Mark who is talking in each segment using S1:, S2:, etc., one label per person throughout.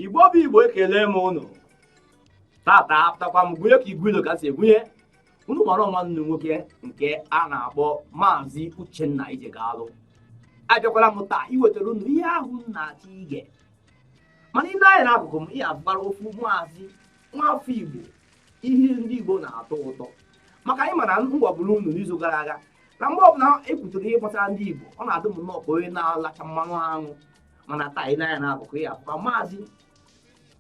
S1: igbo bụ igbo ekele m unu tata apụtakwa m gụnye ka igwe ilo ka si egwunye unu mara ọ nwanne unu nwoke nke a na-akpọ maazị uchenna ijegalu abịakwala m taa iwetara unu ihe ahụ unu na-achọ ige mana i lee anya n'akụkụ m ị ya-afụkwa ofu maazị nwafọ igbo ihe ndị igbo na-atọ ụtọ maka ị ma na m gwaburu unu n'izu gara aga na mgbe ọbụla ekwutere ihe gbasara ndị igbo ọ na-adị m nnọọ ka onye na-alacha mmanụ aṅụ mana taa i lee anya n'akụkụ ị ya-afụkwa maazị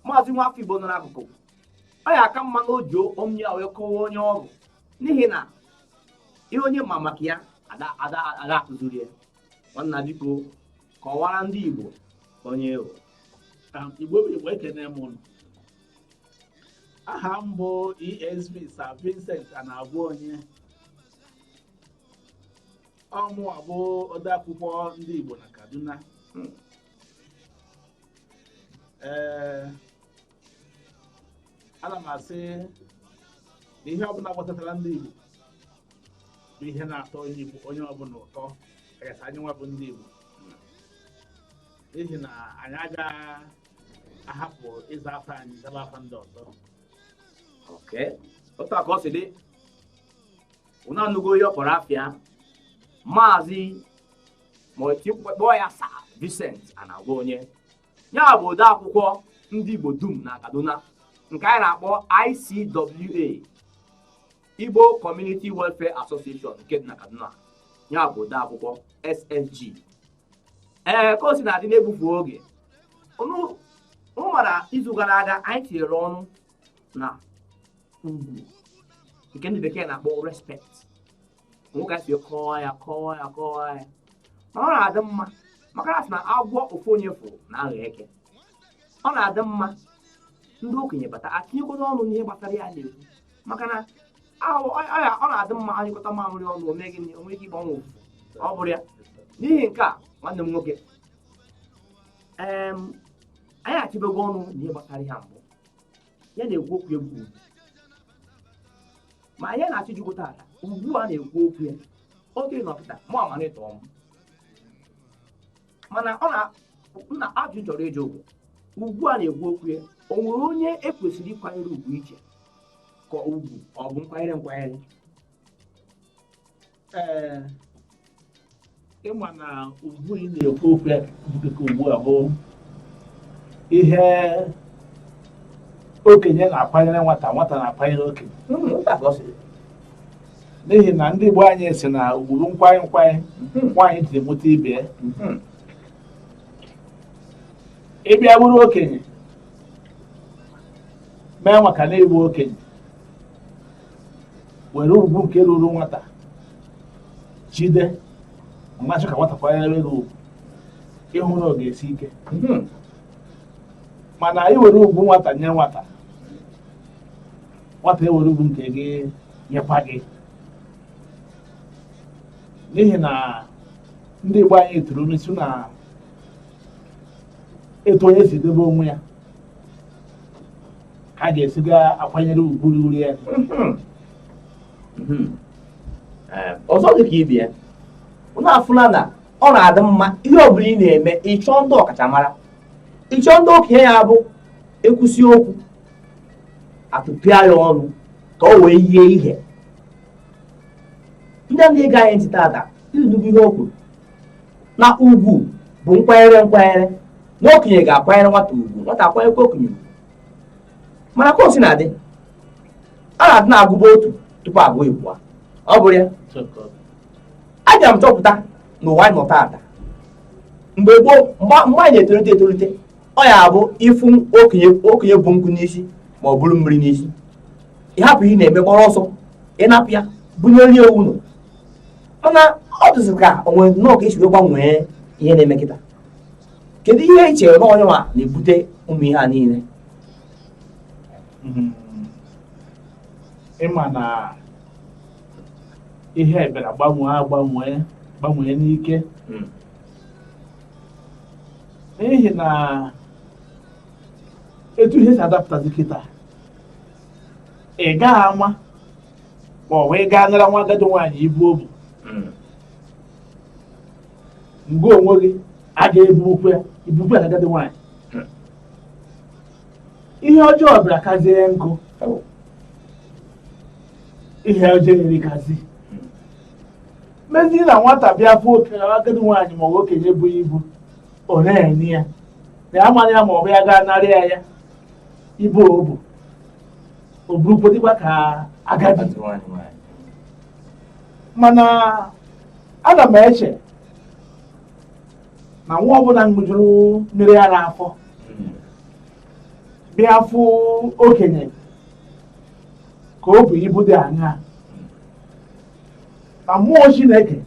S1: maazị nwafọ igbo nọ n'akụkụ ọ ya aka mma na o ji ọnụ ya wee kọwa onye ọ bụ n'ihi na ihe onye ma maka ya a da akụziri ya nwanna biko kọwara ndị Igbo onye ị
S2: bụ um, Igbo bụ Igbo ekene m ụnụ aha m bụ ESV Sir Vincent Anagwaonye ọ mụwa bụ odeakwụkwọ ndị Igbo na Kaduna ee ana m asị na ihe ọbụla gbasatara ndị Igbo bụ ihe na-atọ onye ọbụla ụtọ kachasị anyị nwa bụ ndị Igbo n'ihi na anyị agaghị ahapụ ịza afa anyị zaba afa ndị ọzọ
S1: okay otu a ka ọ si dị unu anụgo ihe ọ kpọrọ afa ya maazị ma kpọọ ya Sir Vincent Anagwaonye ya bụ ode akwụkwọ ndị Igbo dum na Kaduna nke anyị na-akpọ ICWA Igbo Community Welfare Association nke dị na Kaduna ya bụ ode akwụkwọ SSG ee ka o si na-adị n'egbufu oge unu mara izu gara aga anyị tinyere ọnụ na ugwu nke ndị bekee na-akpọ respect o nwe ka e si kọwa ya kọwa ya kọwa ya mana ọ na-adị mma maka na a sị na agwọ ofu onye fụ na-aghọ eke ọ na-adị mma ndị okenye bata etinyekọta ọnụ n'ihe gbasara ihe a na-ekwu maka na ahụ ọ ya- ọ na-adị mma a nyụkọta mamịrị ọnụ o mee gịnị, o nwee ike ịgbanwu ọfụfụ ọ bụrụ ya n'ihi nke a nwanne m nwoke em, anyị achịbego ọnụ n'ihe gbasara ihe a mbụ ihe a na-ekwu okwu ya bụ ugwu ma anyị na-achọ ịjụ gị tata ugwu a na-ekwu okwu ya oge nọpụta mụ amara ịtọ m mana ọ na ajụjụ m chọrọ ịjụ gị ugwu a na-ekwu okwu ya o nwere onye e kwesịrị ịkwanyere ugwu iche ka ugwu ọ bụ nkwanyere nkwanyere
S2: ee ịma na ugwu ị na-ekwu okwu ya dịka ugbu a bụ ihe okenye na-akwanyere nwata nwata na-akwanyere okenye n'ihi na ndị Igbo anyị si na ugwu bụ nkwanye nkwanye nwaanyị ji mụta ibe ya ị bịa bụrụ okenye mee maka na ị bụ okenye were ugwu nke ruru nwata jide ma sị ka nwata kwanyere gị ugwu ị hụ na ọ ga-esi ike hmm. mana i were ugwu nwata nye nwata nwata ewere ugwu nke gị nyekwa gị n'ihi na ndị Igbo anyị tụrụ n'ilu sị na etu onye si debe onwe ya ka a ga-esi ga akwanyere ugwu ruru ya hmm.
S1: Hmm. Eh, ọzọ dị ka ibe ya unu afụla na ọ na-adị mma ihe ọ bụla ị na-eme ị chọọ ndị ọkachamara ị chọọ ndị okenye ya bụ e kwusie okwu a tụpịa ya ọnụ ka o wee yie ihe onye na-ege anyị ntị tata ị nụgo ihe o kwuru na ugwu bụ nkwanyere nkwanyere na okenye ga-akwanyere nwata ugwu nwata akwanyekwa okenye ugwu mana ka o sina dị a na-adị na-agụba otu tupu a gụọ ịbụa ọ bụrụ ya abịa m chọpụta na ụwa anyị nọ taata mgbe gboo mgbe anyị na-etolite etolite ọ ya-abụ ị fụ okenye okenye bu nkụ n'isi ma o buru mmiri n'isi ị hapụ ihe ị na-eme gbọrọ ọsọ ị napụ ya bunyere ya ụnọ mana ọ dịzị ka o nwere nnọọ ka e si wee gbanwee ihe na-eme kịta kedu ihe i chere na ọ ya nwa na-ebute ụmụ ihe a niile Mm.
S2: ịma na ihe a bịara gbanwee agbanwee gbanwee n'ike Mm. n'ihi na etu ihe si adapụtazi kịta ị gaghị ama ma ọ bụ ị gaa nara nwa agadi nwaanyị ibu o bu mm. mgbe onwe gị a ga-ebukwe ibukwe na agadi nwaanyị hmm. ihe ọjọọ bịara kazie nkọ oh. ihe ọjọọ erikazi hmm. mezi na nwata bịa fụ okenye agadi nwaanyị ma ọ bụ okenye bu ibu ọ na-enye ya na ya mara ya ma ọ bụ ya gaa nara ya ibu o bu ọ bụrụgodikwa ka agadi mana ana m eche na nwa ọbụla ṅụjuru mmiri ara afọ hmm. bịa fụ okenye ka o bu ibu dị aṅaa na mmụọ Chineke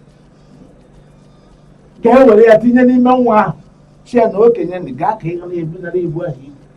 S2: ga-ewere ya tinye n'ime nwa ahụ sị ya na okenye gaa ka ị ga na-ebunara ibu ahụ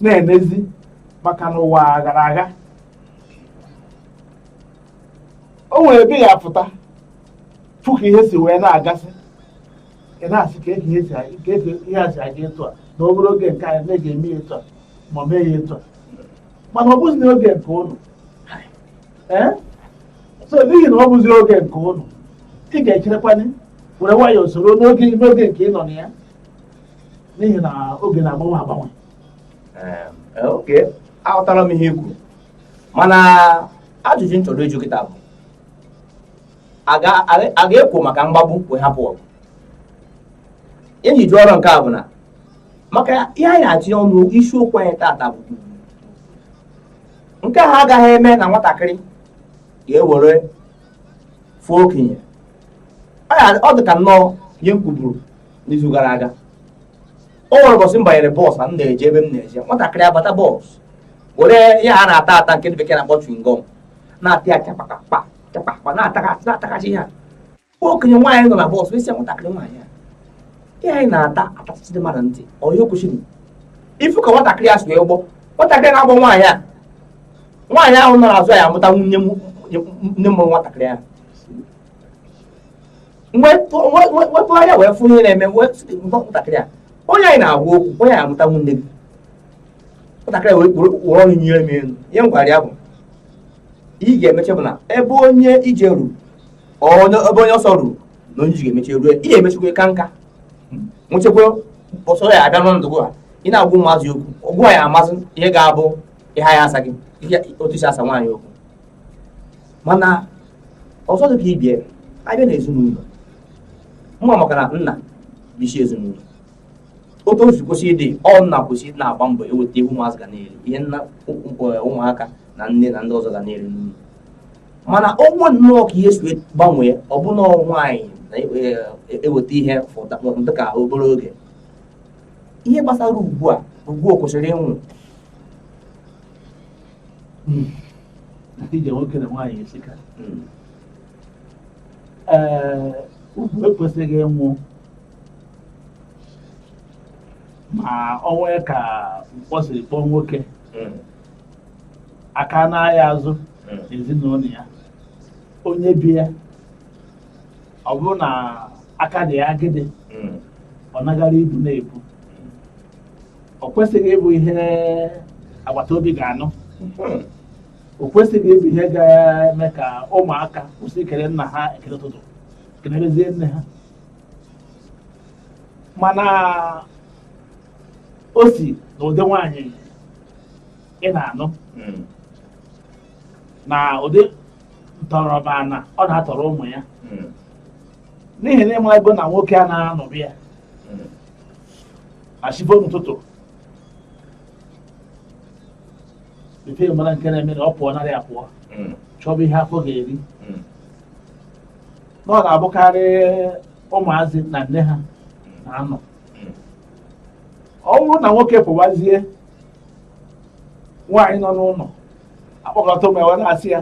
S2: na-emezi maka na ụwa gara aga o nwere ebe ị ya-apụta fụ ka ihe si wee na-agasị ị na-asị ka eji ihe si aga- ka eji ihe a si aga etu a na obere oge nke anyị na-eji eme ya etu a ma ọ mee ya etu a mana ọ bụzi n'oge nke ụnụ ee so n'ihi na ọ bụzi oge nke ụnụ ị ga-echerekwanye were nwayọọ soro n'oge nke ị nọ na ya n'ihi na oge na-agbanwe
S1: agbanwe eh, okay aghọtara m ihe i kwuru mana ajụjụ m chọrọ ịjụ kịta bụ a ga-ekwo maka mgbagbu wee hapụ ọgụ ihe m ji jụọ nke a bụ na maka ihe anyị na-atụnye ọnụ isiokwu anyị tata bụ nke ha agaghị eme na nwatakịrị ga-ewere fụọ okenye ọ dị ka nnọọ ihe m kwuburu n'izu gara aga o nwere ụbọchị m banyere bọọsụ na m na-eje ebe m na-eje nwatakịrị abata bọọsụ were ihe a na-ata ata nke ndị bekee na-akpọ chewing gum na-ata ya chakpakakpa chakpakpa na-atakachi na-atakachi ya okenye nwaanyị nọ na bọọsụ asị ya nwatakịrị nwaanyị a ihe a ị na-ata atasịsị dị mmadụ ntị ọ ihe kwesịrị ịfụ ka nwatakịrị a si wee gbọ nwatakịrị na-agbọ nwaanyị a nwaanyị ahụ nọ n'azụ ya amụtanwu nne mụrụ nwatakịrị ahụ wepụ anya wee fụ ihe na-eme nwatakịrị a onye a ị na-agwa okwu onye a ya-amụtanwu nne gị nwatakịrị wee kpụrụ kpụrụ ọnụ nyere m elu ihe m gwara ya bụ ị ga-emeche bụ na ebe onye ije ruru ebe onye ọsọ ruru na onye ije ga-emeche rue ị ga-emechekwa ka nka nwechekwa ọsọ ya abịa n'ọnọdụ a ị na-agwa ụmụazị okwu ị gwa ya amasị ihe ga-abụ ihe ya asa gị otu i si asa nwaanyị okwu mana ọzọ dị ka ị bịa abịa na ezinụlọ mma maka na nna bụ isi ezinụlọ otu o si kwesị ịdị ọ nna kwesị ịdị na-agba mbọ eweta ihe ụmụazị ga na-eri ihe nna ụmụaka na nne na ndị ọzọ ga na-eri n'ụlọ mana o nwee nnọọ ka ihe si gbanwee ọ bụrụ na nwaanyị na-eweta ihe dị ka obere oge ihe gbasara ugwu a ugwu o kwesịrị inwe
S2: ije nwoke na nwaanyị esika ee ugwu ekwesịghị ịnwụ ma ọ nwee ka mkpọ siri kpọọ nwoke aka anaghị azụ ezinụlọ ya onye be ya ọ bụrụ na aka dị ya agịdị ọ nagara ibu na-ebu o kwesịghị ịbụ ihe agbata obi ga-anụ hmm. o kwesịghị ịbụ ihe ga-eme ka ụmụaka kwụsị ikele nna ha ekele ụtụtụ kelerezie nne ha mana o si na ụdị nwaanyị ị na-anụ hmm. na ụdị ntọrọ ana ọ na-atọrọ ụmụ ya hmm. n'ihi na ị marago na nwoke anaghị anọ be ya na chi bọọ n'ụtụtụ ife mara nke na-eme na ọ pụọ n'ọrụ pụọ hmm. chọba ihe afọ ga-eri hmm. na ọ na-abụkarị ụmụazị na nne ha na-anọ hmm. ọ bụrụ na nwoke pụwazie nwaanyị nọ n'ụlọ akpọkọta ụmụ ya wee na-asị ya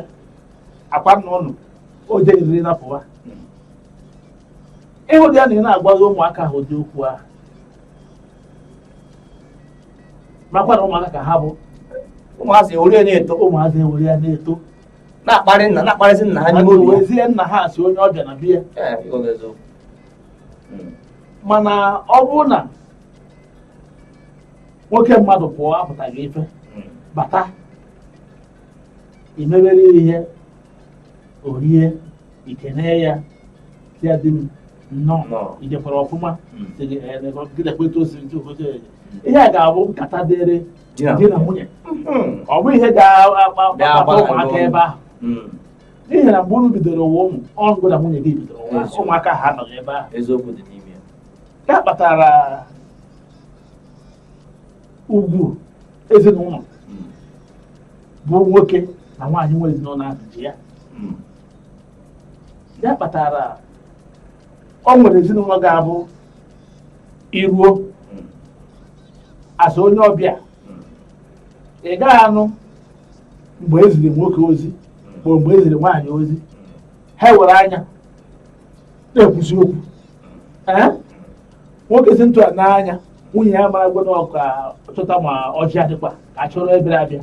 S2: ọ kwa nna unu o jeriri na pụwa ịhụ dị ya na ị na-agwazi ụmụaka ahụ ụdị okwu ahụ marakwa na ụmụaka ka ha bụ ụmụazị ewere na-eto ụmụazị ewere ya
S1: na-eto
S2: na-akparị
S3: nna na-akparịzi nna ha n'ime obi ya. wezie nna ha sị onye
S2: ọbịa na be ya Ee, ọ bụ eziokwu. Mm. mana ọ bụrụ na nwoke mmadụ pụọ apụtaghị ife Mm. bata i mebere ihe o rie i kene ya sị di m nnọọ Nnọọ. i jekwara ọfụma Mm. sị gị, "Eh, lekwa- gị lekwa etu o si ntu obodo ya." ihe a ga-abụ nkata dịrị Di na di na nwunye Mm. ọ bụ ihe ga-akpata Ga-agbara ụmụaka n'ọnụ. ebe ahụ Mm. n'ihi na mgbe unu bidoro ụwa unu ngị na nwunye gị bidoro ụwa Eziokwu. ụmụaka ha anọghị ebe ahụ eziokwu dị
S3: n'ime ya ya
S2: kpatara ugwu ezinụlọ Mm. bụ nwoke na nwaanyị nwe ezinụlọ ahụ ji ya Mm. ya kpatara ọ nwere ezinụlọ ga-abụ i ruo as onye ọbịa ị gaghị anụ mgbe e ziri nwoke ozi ma mgbe e ziri nwaanyị ozi ha were anya na-ekwusi okwu nwoke si etu a nee anya nwunye ya marago na ọ ka chọta ma ọjị ọ dịkwa ka a chọọrọ ndị bịara abịa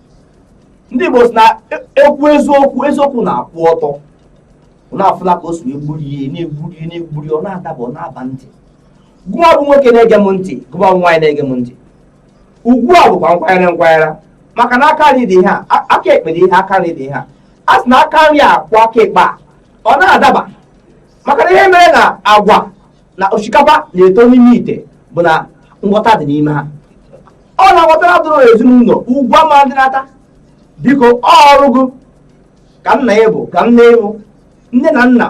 S3: ndị Igbo sị na ekwu eziokwu eziokwu na-akwụ ọtọ unu afụla ka o si egburi ihe na-egburi ihe na-egburi ọ na-adaba ọ na-aba ntị gụwa bụ nwoke na-ege m ntị gụwa bụ nwaanyị na-ege m ntị ugwu a bụkwa nkwanyere nkwanyere maka na aka nri dị ihe a aka ekpe dị ihe aka nri dị ihe a a sị na aka nri akwọ aka ekpe a ọ na-adaba maka na ihe mere na agwa na osikapa na-eto n'ime ite bụ na nghọta dị n'ime ha ọ na-aghọtara dụrụ ezinụlọ ugwu ama dị n'ata biko ọrụ gị ka nna ya bụ ka nne ịbụ nne na nna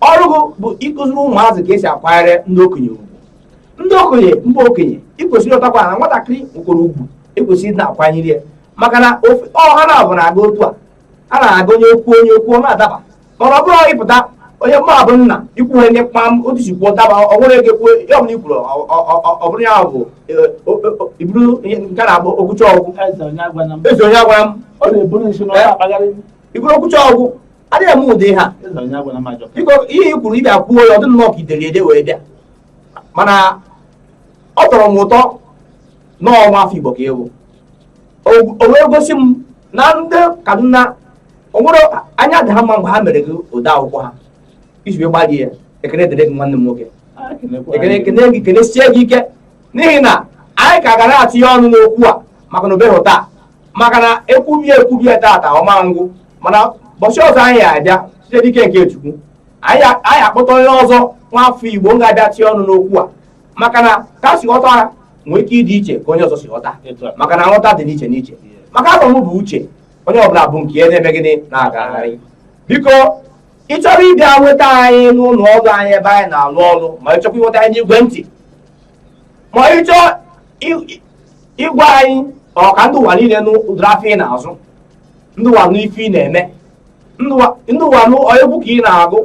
S3: ọrụ gị bụ ịkụziri ụmụazị ka e si akwanyere ndị okenye ugwu ndị okenye mba okenye i kwesịrị ịghọtakwa na nwatakịrị nwere ugwu e kwesịrị ịdị na-akwanyere ya maka na ọha na-abụ na-aga otu a a na-aga onye kwuo onye kwuo ọ na-adaba mana ọ bụrụ ọ ị pụta onye mma bụ nna i kwuo ihe ndị kpam otu si kwuo daba o nwere ego kwuo ya ọbụla i kwuru ọ- ọ- ọ- ọ bụrụ ya bụ eh, o- o- o- iburu ihe nke a na-abụ okwucha ọ gwụ eze onye agwana m eze onye agwana m ọ na-eburu isi na ọ na-akpagharị m. ị bụrụ okwucha ọ gwụ adịghị eme ụdị ihe a eze onye agwana m ajọ biko ihe i kwuru ị bịa kwuo ya ọ dị nnọọ ka i dere ede wee bịa mana ọ tọrọ m ụtọ na nwa afọ Igbo ka ị wụ o wee gosi m na ndị Kaduna o nwere anya dị ha mma mgbe ha mere gị ụdị akwụkwọ ha i ji wee gbalie ya ekene dịrị gị nwanne m nwoke ekene ekene gị kenesie gị ike n'ihi na anyị ka gara atụnye ọnụ n'okwu a maka na o beghị taa maka na ekwubie ekwubie tata ọ ma ngwụ mana ụbọchị ọzọ anyị ya-abịa site n'ike nke Chukwu anyị akpọta onye ọzọ nwafọ igbo ga-abịa tie ọnụ n'okwu a maka na ka si ghọta ha nwee ike ịdị iche ka onye ọzọ si ghọta maka na nghọta dị n'iche n'iche maka afọ m bụ uche onye ọbụla bu nke ya na-eme gịnị na-agagharị biko ị chọrọ ịbịa nweta anyị n'ụlọ ọrụ anyị ebe anyị na-alụ ọrụ ma ị chọkwa ịnweta anyị n'igwe ntị ma ị chọọ ịgwa anyị ka ndị ụwa niile nụ ụdịrị afịa ị na-azụ ndị ụwa nụ ife ị na-eme ndị ụwa nụ egwu ka ị na-agụ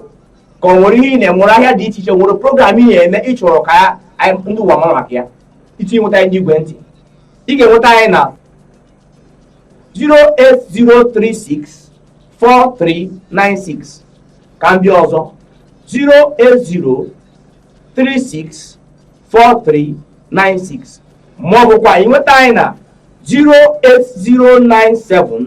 S3: ka o nwere ihe ị na-enwere ahịa dị iche iche nwere program ị na-eme ị chọrọ ka ndị ụwa mara maka ya iji nweta anyị n'igwe ntị ị ga-enweta anyị na 080364396 ka m bịa ọzọ 080364396 ma ọ bụkwa ị nweta anyị na 08097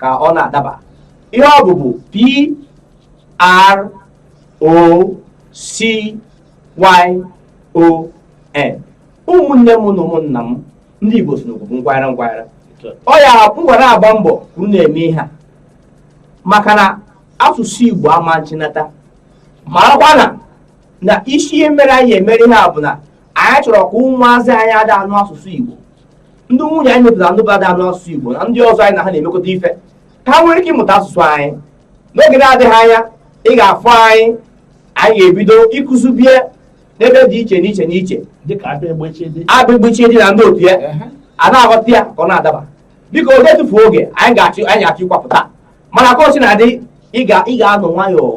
S3: ka ọ na-adaba ihe ọ bụbu p r o c y o n ụmụnne m na ụmụnna m ndị igbo sị na okwu bụ ngwara ngwara ọ ya ngwara agba mbọ ka unu na-eme ihe a maka na asụsụ igbo ama nchinata maakwa na na isi ihe mere anyị emere ihe a bụ na anyị chọrọ ka ụmụazị anyị ada anụ asụsụ igbo ndị nwunye anyị mepụtara ndị ada anụ asụsụ Igbo na ndị ọzọ anyị na ha na-emekọta ife ka ha nwere ike ịmụta asụsụ anyị n'oge na-adịghị anya ị ga-afụ anyị anyị ga-ebido ịkụzibe ya n'ebe dị iche n'iche
S2: n'iche
S3: abịgbichi dị na ndị otu ya a na-aghọta ya ka ọ na-adaba biko oge etufu oge anyị ga-achọ ịkwapụta mana ka o si na-adị ị ga-anọ nwayọọ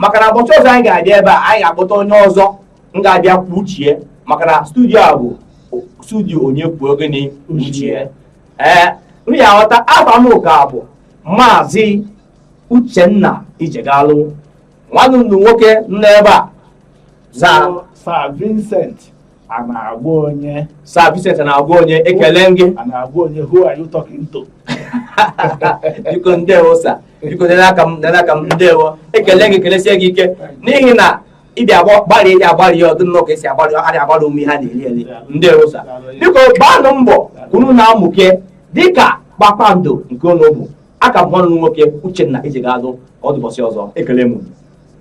S3: maka na ụbọchị ọzọ anyị ga-abịa ebe a anyị ga-akpọta onye ọzọ m ga-abịa kwuo uche ya maka na studio a bụ studio onye kwuo gịnị uche ya ee m ya aghọta afa m ka bụ maazị Uchenna Ijegalụ nwanne m nwoke nọ ebe a aza
S2: sa Vincent Anagwonye sa Vincent Anagwonye
S3: ekele gị a na-agwa onye who are you
S2: talking
S3: to biko ndewo sa biko nene aka m nene aka m ndewo ekele gị kelesie gị ike n'ihi na ị bịa agba gbalịa ị dị agbalị ya ọ dị nnọọ ka e si agbalị ọ adị agbalị ụmụ ihe a na-eri eri ndewo sa biko gbaanụ mbọ ka unu na-amụke dịka kpakpando nke unu bụ aka m nwanne m nwoke Uchenna Ijegalụ ka ọ dị ụbọchị ọzọ ekele m unu.